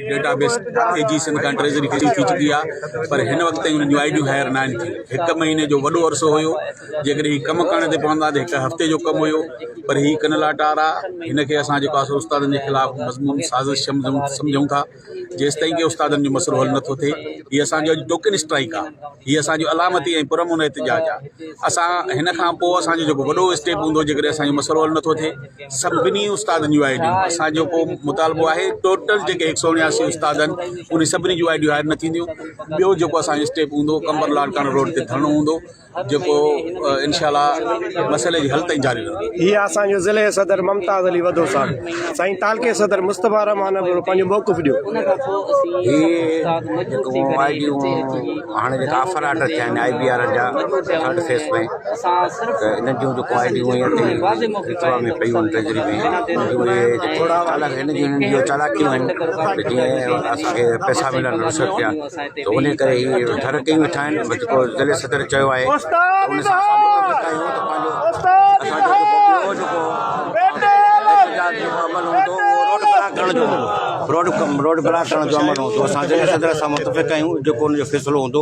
Data base A G Sindh کان treasury ڪري ٿي چڪي آهي پر هن وقت تائين انهن جون آئي ڊيون هائر ناهن ٿيون هڪ مهيني جو وڏو عرصو هيو جيڪڏهن هي ڪم ڪرڻ تي پوندا ته هڪ هفتي جو ڪم هيو پر هي ڪن لاٽار آهي هن کي اسان جيڪو آسر استادن جي خلاف مضمون سازش سمجھون ٿا جيستائين ڪي استادن جو مسئلو حل نٿو ٿئي هي اسان جو اڄ ٽوڪن اسٽرائيڪ آهي هي اسان جو علامتي ۽ پرامن احتجاج آهي اسان هن کان پوء اسان جو جيڪو وڏو اسٽيپ هوندو جيڪڏهن اسان جو مسئلو حل نٿو ٿئي سڀني استادن جون آء ڊيون اسان جو ڪو مطالبو آهي ٽوٽل جيڪي هڪ سئو اڻياسي استاد آهن انهي سڀني جون آء ڊيون هائير نه ٿينديون ٻيو جيڪو اسان جو اسٽيپ هوندو قمبر لاڙڪاڻو روڊ تي ڌرڻو هوندو جيڪو انشاء الله مسئلي جي حل تائين جاري رهندو هي اسان جو ضلع صدر ممتاز علي وڌو صاحب سائين تعلقي صدر مصطفي رحمان ابڙو پنهنجو موقف ڏيو هي جيڪو آء ڊيون هاڻي جيڪا آفر آرڊر ٿيا آهن آء بي آر جا ٿرڊ فيس ۾ انهن جون جيڪو آئي ڊيون هيئن تي رٿوڙ ۾ پيون آهن ٽريجري ۾ انهن جون اهي چالاڪيون آهن ته جيئن اسانکي پئسا ملن رشوت ڏيا ته ان ڪري هي ڍر ڪيون ويٺا آهن ۽ جيڪو ضلعي صدر چيو آهي ان سان روڊ بلاڪ ڪرڻ جو عمل هوندو اسان ضلعي صدر سان متفق آهيون جيڪو ان جو فيصلو هوندو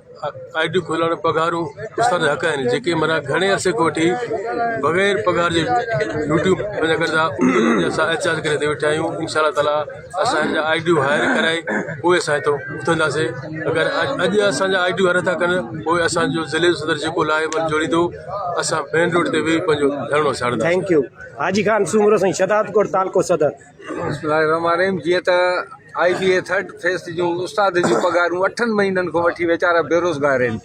آء ڊي کولڻ پگهارون استاد جا حق آهن جيڪي مرا گهڻي عرصي کان وٺي بغير پگهار جي ڊيوٽيون پيدا ڪري ٿا انهن جا احتجاج ڪري هتي ويٺا آهيون انشاء الله تعالٰي اسان جا آء ڊيون هائير ڪرائي پوء اسان هتو اٿنداسين اگر اڄ اسانجا آء ڊيون هائير نٿا ڪن پوء اسانجو ضلعي جو صدر جيڪو لاء بل جوڙيندو اسان مين روڊ تي ويهي پنهنجو ڌرڻو ساڙنداسين بسم الله الرحمن الرحيم جيئن ته آئي بي اي ٿرڊ فيس جون استادن جون پگهارون اٺن مهينن کان وٺي ويچارا بيروزگار آهن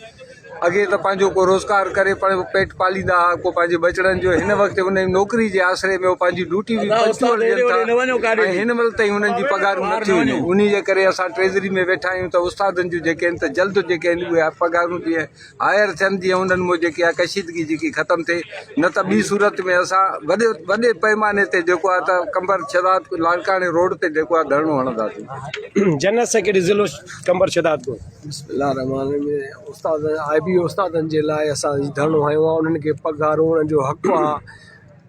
اڳي ته پنهنجو کو روزگار ڪري پنهنجو پيٽ پاليندا هئا کو پنهنجي ٻچڙن جو هن وقت ان نوڪري جي آسري ۾ پنهنجي ڊيوٽي به پنجوڙ ڏين ٿا ۽ هن مهل تائين انهن جي پگهارون نه ٿيون آهن ان جي ڪري اسان ٽريزري ۾ ويٺا آهيون ته استادن جون جيڪي آهن ته جلد جيڪي آهن اهي پگهارون جي هائير ٿين جيئن انهن ۾ جيڪي آهي ڪشيدگي جيڪي ختم ٿئي نه ته ٻي صورت ۾ اسان وڏي وڏي پئماني تي جيڪو آهي ته قمبر شهداد لاڙڪاڻي روڊ تي جيڪو آهي ڌرڻو هڻنداسين. جنرل سيڪريٽري ضلعو قمبر شهداد ڪو. بسم الله الرحمن الرحيم استاد آء بي استادن جي لاء اسان هي ڌرڻو هنيو آهي انهن کي پگهارون انهن جو حق آهي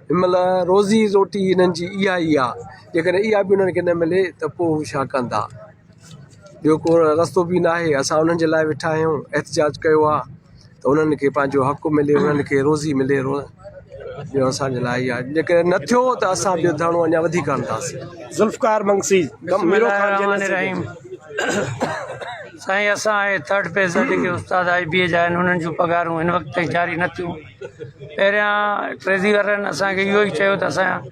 هن مهل روزي روٽي هنن جي اها ئي آهي جيڪڏهن اها به انهن کي نه ملي ته پوء هو ڇا ڪندا ٻيو ڪو رستو به نه آهي اسان انهن جي لاء ويٺا آهيون احتجاج ڪيو آهي ته انهن کي پنهنجو حق ملي انهن کي روزي ملي ٻيو اسانجي لاء اهي آهي جيڪڏهن نه ٿيو ته اسان ٻيو ڌرڻو اڃا وڌيڪ هڻنداسين ذوالفقار منگسي سائين اسان اهي ٿرڊ پيز جا جيڪي استاد آئي بي اي جا آهن انهن جون پگهارون هن وقت تائين جاري نه ٿيون پهريان ٽريزي وارن اسانکي اهو ئي چيو ته اسان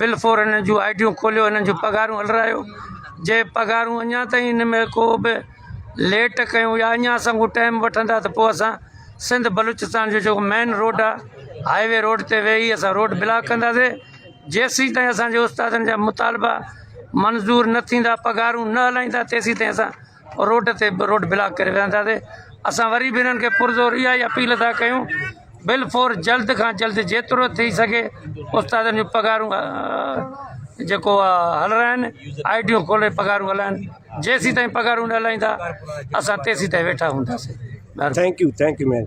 بلفور انهن جون آئي ڊيون کوليو انهن جون پگهارون هلرايو جي پگهارون اڃا تائين ان ۾ ڪو به ليٽ ڪيون يا اڃا اسان کان ٽائيم وٺندا ته پوء اسان سنڌ بلوچستان جو جيڪو مين روڊ آهي هاء وي روڊ تي ويهي اسان روڊ بلاڪ ڪنداسي جيسين تائين اسانجي استادن جا مطالبا منظور نه ٿيندا پگهارون نه هلائيندا تيسين تائين اسان روڊ تي روڊ بلاڪ ڪري ويهنداسين اسان وري به انهن کي پرزور اها ئي اپيل ٿا ڪيون بل فور جلد کان جلد جيترو ٿي سگهي استادن جون پگهارون جيڪو آهي هلرائن آئي ٽيون کولي پگهارون هلائن جيسين تائين پگهارون نه هلائيندا اسان تيسين تائين ويٺا هونداسين thank you thank you ma'am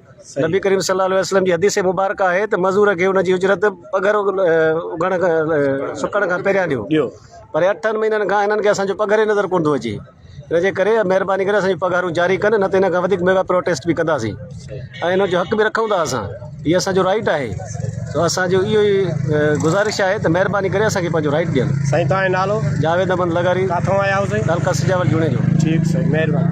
نبي ڪريم صلي الله عليه وسلم جي حديث مبارڪه آهي ته مزور کي ان جي اجرت پگهر اگهڻ کان سڪڻ کان پهريان ڏيو پر اٺن مهينن کان هنن کي اسان جو پگهر ئي نظر ڪونه ٿو اچي ان جي ڪري مهرباني ڪري اسان جون پگهارون جاري ڪن نه ته ان کان وڌيڪ ميگا پروٽيسٽ به ڪنداسين ۽ ان جو حق به رکون ٿا اسان هي اسان جو رائٽ آهي سو اسان جو اهو ئي گذارش آهي ته مهرباني ڪري اسان کي پنهنجو رائٽ ڏين سائين تان نالو جاويد احمد لغاري ڪاٿو آيا هو سائين تعلقه سجاول جوڻيجو ٺيڪ سائين مهرباني